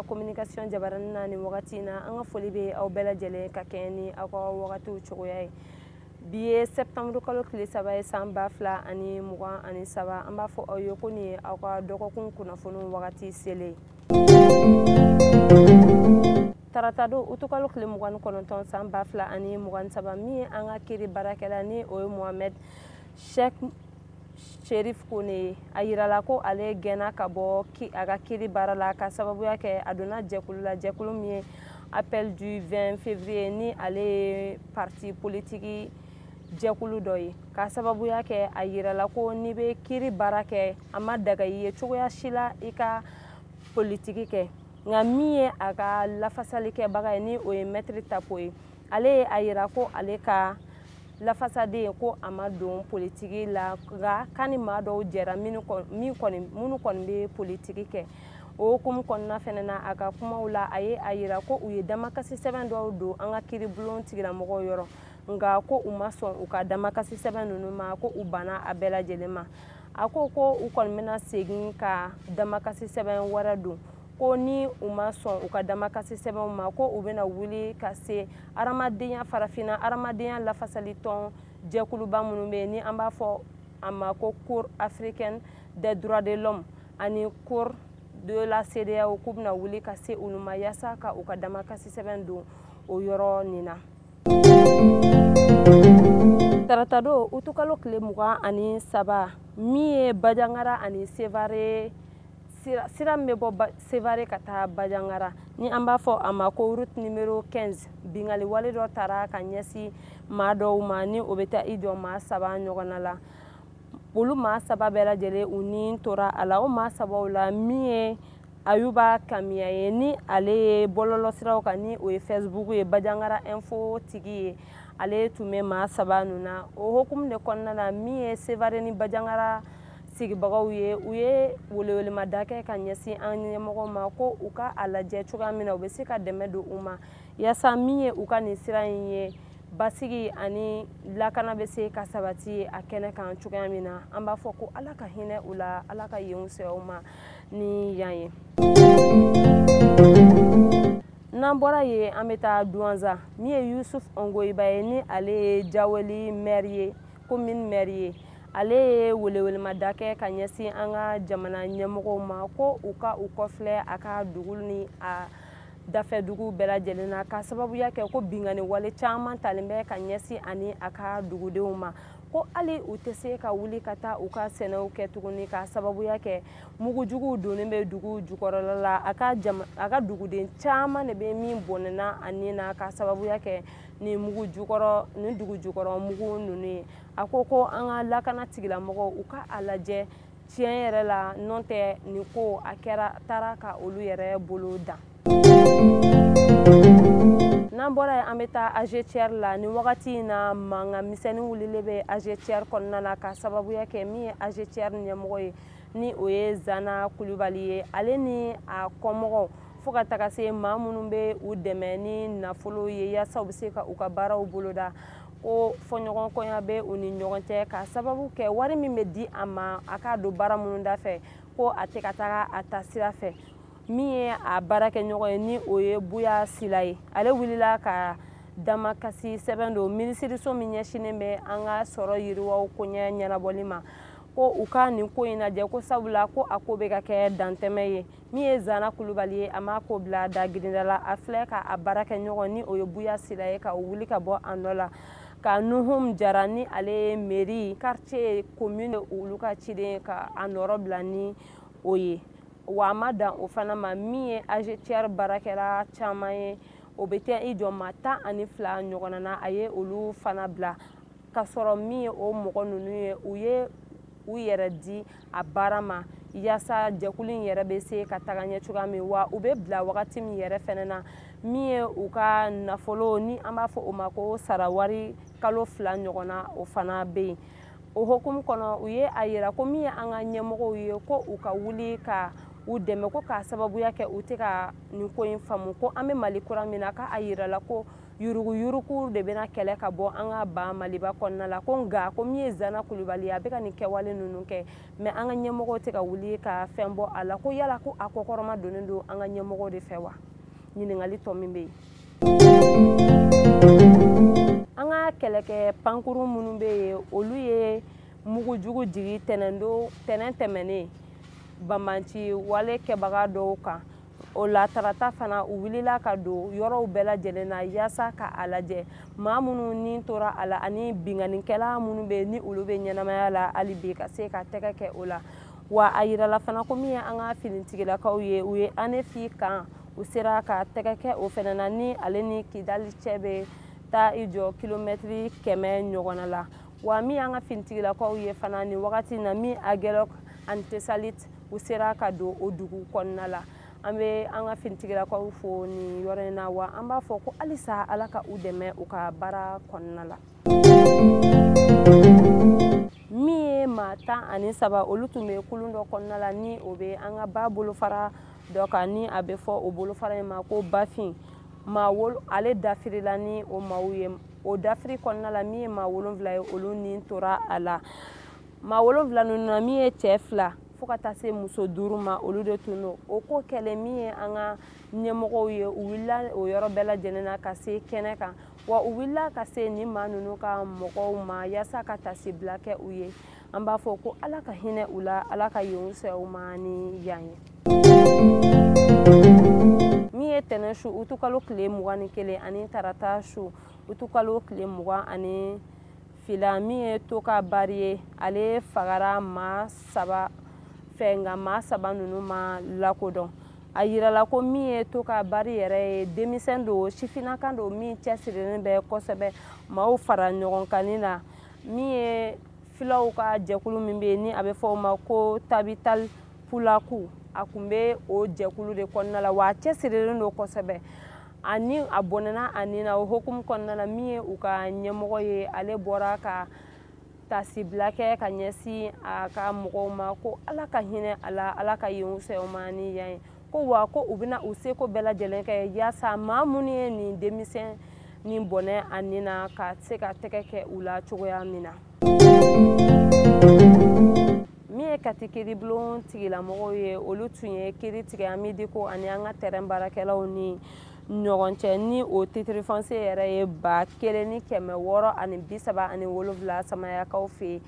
communication jabaranin na nin wagati in na an ka foli bɛ aw bɛɛ lajɛlen ka kɛɲɛ ni aw ka wagatiw cogoya ye bi ye septembre kalo tile saba ye san ba fila ani mugan ani saba an b'a fɔ aw ye ko nin ye aw ka dɔgɔkun kunnafoniw wagati selen ye tarata don utukalo tile mugan ni kɔnɔntɔn san ba fila ani mugan ni saba min ye an ka kiri baarakɛla ni o ye mohamɛd shek sherif kone ye a yirala ko ale gɛnna ka bɔ a ka kiri baara la ka sababuya kɛ a donna jɛkulu la jɛkulu min ye appel du 20 février ni ale ye parti politiki jɛkulu dɔ ye ka sababuya kɛ a yirala ko n'i bɛ kiri baara kɛ a ma daga i ye cogoya si la i ka politiki kɛ nka min ye a ka lafasali kɛbaga ye ni o ye mɛtiri tapo ye ale ye a yira ko ale ka lafasaden ko a ma don politiki la nka k'a ni maa dɔw jɛra minnu kɔni bɛ politiki kɛ o hukumu kɔnɔna fɛnɛ na a ka kumaw la a ye a yira ko u ye damakasi sɛbɛn dɔw don an ka kiribulon tigilamɔgɔw yɔrɔ nka ko u ma sɔn u ka damakasi sɛbɛn ninnu ma ko u banna a bɛɛ lajɛlen ma a ko ko u kɔni bɛna segin ka damakasi sɛbɛn wɛrɛ don ko ni u ma sɔn u ka damakasi sɛbɛnw ma ko u bɛna wuli ka se hadamadenya farafinna hadamadenya lafasali tɔn jɛkuluba minnu bɛ yen ni an b'a fɔ a ma ko cour africaine des droits de l'homme ani cour de la CEDEAO k'u bɛna wuli ka se olu ma yasa ka u ka damakasi sɛbɛn don o yɔrɔ nin na. taratadon utukalo tile mugan ani saba min ye bajangara ani sevare sira min bɛ bɔ sevare ka taa bajangara ni an b'a fɔ a ma ko route numero 15 binkanni wale dɔ tara ka ɲɛsin maa dɔw ma ni o bɛ taa i jɔ maa saba ɲɔgɔnna la olu maa saba bɛɛ lajɛlen u ni tora a la o maa sabaw la min ye ayuba kamiya ye ni ale ye bɔlɔlɔsiraw kan ni o ye facebook ye bajangara info tigi ye ale tun bɛ maa saba ninnu na o hukumu de kɔnɔna na min ye sevare ni bajangara sigibagaw ye u ye welewelemada kɛ ka ɲɛsin an ɲɛmɔgɔw ma ko u ka a lajɛ cogoya min na u bɛ se ka dɛmɛ don u ma yaasa min ye u ka nin sira in ye basigi ani lakana bɛ se ka sabati a kɛnɛ kan cogoya min na an b'a fɔ ko ala ka hinɛ u la ala ka yen fisaya u ma ni yan ye n'an bɔra yen an bɛ taa duwanza min ye yusuf ɔngoyiba ye ni ale ye jaweli mɛri ye komin mɛri ye ale ye welewelemada kɛ ka ɲɛsin an ka jamana ɲɛmɔgɔw ma ko u ka u kɔfilɛ a ka dugu ni a dafɛ dugu bɛɛ lajɛlen na ka sababuya kɛ ko binkanni wale caman talen bɛ ka ɲɛsin a ni a ka dugudenw ma ko hali u tɛ se ka wuli ka taa u ka sɛnɛw kɛ tuguni ka sababuya kɛ mugujuguw donnen bɛ dugu jukɔrɔla la a ka jama a ka duguden caman de bɛ min bɔnɛna a ni na ka sababuya kɛ nin mugu jukɔrɔ nin dugu jukɔrɔ mugu ninnu ye a ko ko an ka lakana tigilamɔgɔw u ka a lajɛ tiɲɛ yɛrɛ la n'o tɛ nin ko a kɛra taara ka olu yɛrɛ bolo dan n'an bɔra yen an bɛ taa agetiɛr la nin wagati in na mankan misɛnnin wulilen bɛ agetiɛr kɔnɔna na ka sababuya kɛ min ye agetiɛr ɲɛmɔgɔ ye ni o ye zana kulubali ye ale ni a kɔmɔgɔw fo ka taga se maa minnu bɛ u dɛmɛ ni nafolo ye yaasa u bɛ se ka u ka baaraw boloda ko fɔɲɔgɔnkɔya bɛ u ni ɲɔgɔn cɛ ka sababu kɛ wari min bɛ di a ma a k'a don baara minnu da fɛ ko a tɛ ka taga a taasira fɛ min ye a baarakɛɲɔgɔn ye ni o ye buya sila ye ale wulila ka damakasi sɛbɛn don minisiriso min ɲɛsinnen bɛ an ka sɔrɔ yiriwa koɲɛ ɲɛnabɔli ma ko u ka nin ko in lajɛ ko sabula ko a ko bɛ ka kɛ dantɛmɛ ye min ye zana kulubali ye a m'a ko bila da girinda la a filɛ ka a baarakɛɲɔgɔn ni o ye buya sila ye ka o wuli ka bɔ a nɔ la ka nuhum jara ni ale ye meri quartier commune olu ka ciden ka a nɔrɔ bila ni o ye wa a ma dan o fana ma min ye agetiɛr baarakɛla caman ye o bɛ taa i jɔ maa tan ani fila ɲɔgɔnna na a ye olu fana bila ka sɔrɔ min ye o mɔgɔ ninnu ye u ye u yɛrɛ di a baara ma yaasa jɛkulu in yɛrɛ bɛ se ka taga ɲɛ cogoya min wa u bɛ bila wagati min yɛrɛ fɛnɛ na min ye u ka nafolo ni an b'a fɔ o ma ko sarawari kalo fila ɲɔgɔn na o fana bɛ yen o hokumu kɔnɔ u ye a yira ko min ye an ka ɲɛmɔgɔw ye ko u ka wuli ka u dɛmɛ ko k'a sababuya kɛ u tɛ ka nin ko in faamu ko an bɛ mali kura min na k'a yirala ko yuruguyurugu de bɛna kɛlɛ ka bɔ an ka ba maliba kɔnɔna la ko nka ko min ye zana kulubali ye a bɛ ka nin kɛwale ninnu kɛ mɛ an ka ɲɛmɔgɔw tɛ ka wuli ka fɛn bɔ a la ko yala ko a kɔkɔrɔmadonnen don an ka ɲɛmɔgɔw de fɛ wa ɲininkali tɔ min bɛ yen an ka kɛlɛkɛ pankuru minnu bɛ yen olu ye mugu jugu jigin tɛnɛndon tɛnɛn tɛmɛnen banbaanci wale kɛbaga dɔw kan o la tarata fana u wulila ka don yɔrɔw bɛɛ lajɛlen na yaasa ka a lajɛ maa minnu ni tora a la ani binkannikɛla minnu bɛ ni olu bɛ ɲɛnamaya la hali bi ka se ka tɛgɛ kɛ o la wa a yirala fana ko min ye an ka finitigilakaw ye u ye anefi kan u sera ka tɛgɛ kɛ o fana na ni ale ni kidali cɛ bɛ taa i jɔ kilomɛtiri kɛmɛ ɲɔgɔnna la wa min y'an ka finitigilakaw ye fana nin wagati na min agelok ani tesalit u sera ka don o dugu kɔnɔna la an bɛ an ka finitigilakaw fo nin yɔrɔ in na wa an b'a fɔ ko halisa ala ka u dɛmɛ u ka baara kɔnɔna la min ye maa tan ani saba olu tun bɛ kulun dɔ kɔnɔna la ni o bɛ an ka ba bolofara dɔ kan ni a bɛ fɔ o bolofara in ma ko bafin maa wolo ale dafirila ni o maaw ye o dafiri kɔnɔna la min ye maa wolonfila ye olu ni tora a la maa wolonfila ninnu na min ye cɛɛ fila fo ka taa se muso duuru ma olu de tun don o ko kɛlen min ye an ka ɲɛmɔgɔw ye u wulila o yɔrɔ bɛɛ lajɛlen na ka se kɛnɛ kan wa u wulila ka se nin maa ninnu ka mɔgɔw ma yaasa ka tasibila kɛ u ye an b'a fɔ ko ala ka hinɛ u la ala ka yen fisaya u ma ni yan ye min ye tɛnɛ su utukalo tile mugan ni kelen ani tarata su utukalo tile mugan ani fila min ye toka bari ye ale fagara maa saba fɛ nka maa saba ninnu ma lakodɔn a yirala ko min ye toka bari yɛrɛ ye denmisɛn don sifinakan don min cɛsirilen bɛ kosɛbɛ maaw fara ɲɔgɔn kanni na min ye filaw ka jɛkulu min bɛ yen ni a bɛ fɔ o ma ko tabital pulaku a tun bɛ o jɛkulu de kɔnɔna la wa a cɛsirilen don kosɛbɛ ani a bɔnɛna a ni na o hukumu kɔnɔna la min ye u ka ɲɛmɔgɔ ye ale bɔra ka tasibila kɛ ka ɲɛsin a ka mɔgɔw ma ko ala ka hinɛ a la ala ka yen fisaya o ma ni yan ye ko wa ko u bɛna u seko bɛɛ lajɛlen kɛ yaasa maa minnu ye nin denmisɛn nin bɔnɛ a ni na ka se ka tɛgɛ kɛ u la cogoya min na min ye kati kiribulon tigilamɔgɔw ye olu tun ye kiri tigɛ amidiko ani an ka tɛrɛn baarakɛlaw ni ɲɔgɔn cɛ ni o titirifɔnse yɛrɛ ye ba kelen ni kɛmɛ wɔɔrɔ ani bi saba ani wolonfila samayakaw fɛ yen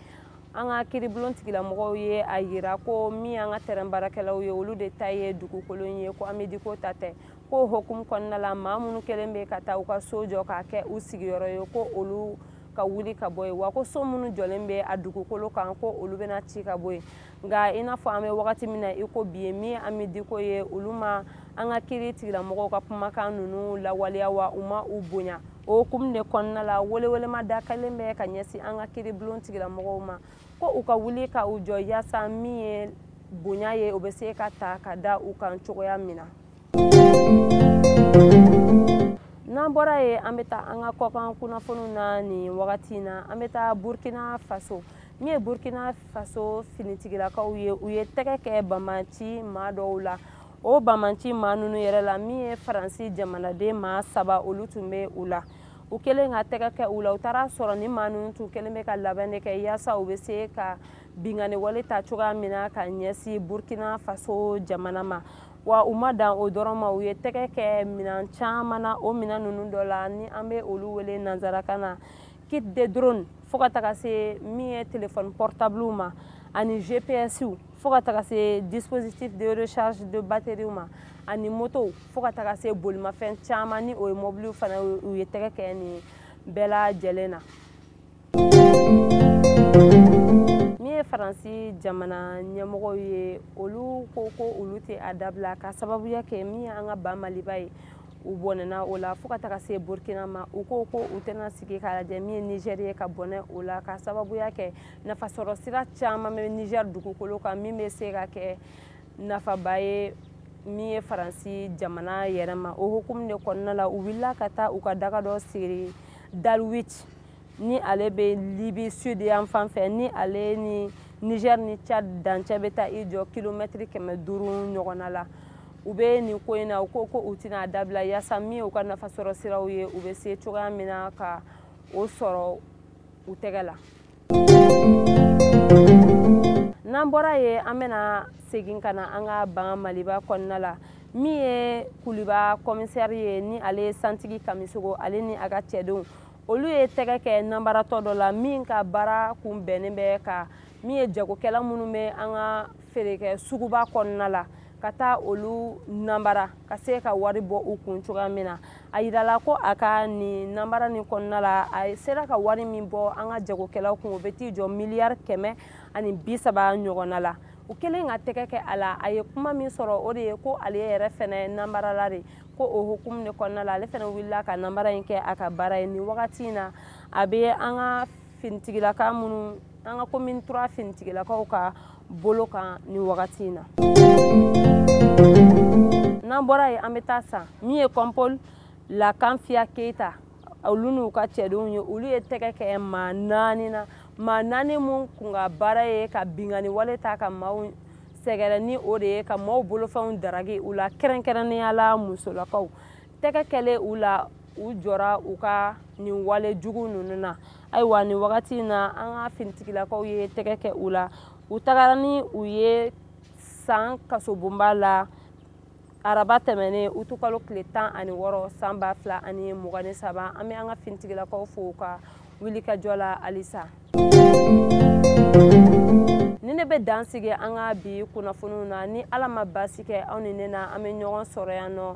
an ka kiribulon tigilamɔgɔw ye a yira ko min ye an ka tɛrɛn baarakɛlaw ye olu de ta ye dugukolo ye ko amidiko ta tɛ ko o hukumu kɔnɔna la maa minnu kɛlen bɛ ka taa u ka so jɔ k'a kɛ u sigiyɔrɔ ye ko olu ka wuli ka bɔ yen wa ko so minnu jɔlen bɛ a dugukolo kan ko olu bɛna ci ka bɔ yen nka i n'a fɔ an bɛ wagati min na i ko bi ye min ye amidiko ye olu ma an ka kiri tigilamɔgɔw ka kumakan ninnu lawaleya wa u ma u bonya o hukumu de kɔnɔna la welewelema da kɛlen bɛ ka ɲɛsin an ka kiribulon tigilamɔgɔw ma ko u ka wuli ka u jɔ yaasa min ye bonya ye o bɛ se ka ta ka da u kan cogoya min na n'an bɔra yen an bɛ taa an ka kɔkan kunnafoniw na nin wagati in na an bɛ taa burkina faso min ye burkina faso finitigilakaw ye u ye tɛgɛ kɛ banbaanci maa dɔw la o banbaanci maa ninnu yɛrɛ la min ye faransi jamanaden maa saba olu tun bɛ u la u kɛlen ka tɛgɛ kɛ u la u taara sɔrɔ ni maa ninnu tun kɛlen bɛ ka labɛn de kɛ yaasa u bɛ se ka binkanniwale ta cogoya min na ka ɲɛsin burkina faso jamana ma wa u ma dan o dɔrɔn ma u ye tɛgɛ kɛ minan caman na o minan ninnu dɔ la ni an bɛ olu wele nanzarakan na kit de drone fo ka taga se min ye telefɔni portabliw ma ani gpsw fo ka taga se dispositif de recharge de batteriew ma ani motow fo ka taga se bolimafɛn caman ni o ye mɔbiliw fana u ye tɛgɛ kɛ nin bɛɛ lajɛlen na min ye faransi jamana ɲɛmɔgɔw ye olu ko ko olu tɛ a dabila ka sababuya kɛ min ye an ka ba maliba ye u bɔnɛna o la fo ka taga se burkina ma u ko ko u tɛna sigi ka lajɛ min ye nigɛri ye ka bɔnɛ o la ka sababuya kɛ nafasɔrɔ sira caman bɛ niger dugukolo kan min bɛ se ka kɛ nafaba ye min ye faransi jamana yɛrɛ ma o hukumu de kɔnɔna la u wulila ka taa u ka daga dɔ siri d'al-wigh ni ale bɛ libi sud yan fan fɛ ni ale ni niger ni tchad dancɛ bɛ taa i jɔ kilomɛtiri kɛmɛ duuru ɲɔgɔnna la u bɛ nin ko in na u ko ko u tɛna a dabila yaasa min u ka nafasɔrɔ siraw ye u bɛ se cogoya min na ka o sɔrɔ u tɛgɛ la n'an bɔra yen an bɛna segin ka na an ka ba maliba kɔnɔna la min ye kuluba kɔmisɛri ye ni ale ye santigi kamisogo ale ni a ka cɛdenw olu ye tɛgɛ kɛ nanbaratɔ dɔ la min ka baara kun bɛnnen bɛ ka min ye jagokɛla minnu bɛ an ka feerekɛ suguba kɔnɔna la ka taa olu nanbara ka se ka wari bɔ u kun cogoya min na a yirala ko a ka nin nanbara nin kɔnɔna la a sera ka wari min bɔ an ka jagokɛlaw kun o bɛ t'i jɔ miliyari kɛmɛ ani bi saba ɲɔgɔnna la u kɛlen ka tɛgɛ kɛ a la a ye kuma min sɔrɔ o de ye ko ale yɛrɛ fɛnɛ nanbarala de ko o hukumu de kɔnɔna la ale fɛnɛ wulila ka nanbara in kɛ a ka baara ye nin wagati in na a bɛ an ka finitigilaka minnu an ka commune trois finitigilakaw ka bolo kan nin wagati in na n'an bɔra yen an bɛ taa san min ye kɔnpol lakanfiya keyita olu n'u ka cɛdenw ye olu ye tɛgɛ kɛ maa naani na maa naani minnu kun ka baara ye ka binkanni wale ta ka maaw sɛgɛrɛ ni o de ye ka maaw bolofɛnw daragi u la kɛrɛnkɛrɛnnenya la musolakaw tɛgɛ kɛlen u la u jɔra u ka nin wale jugu ninnu na ayiwa nin wagati in na an ka finitigilakaw ye tɛgɛ kɛ u la u tagara ni u ye san kasobonba la araba tɛmɛnen utu kalo tile tan ani wɔɔrɔ san ba fila ani mugan ni saba an bɛ an ka finitigilakaw fo u ka wulikajɔ la halisa ni ne bɛ dan sigi an ka bi kunnafoniw na ni ala ma baasi kɛ aw ni ne na an bɛ ɲɔgɔn sɔrɔ yan nɔ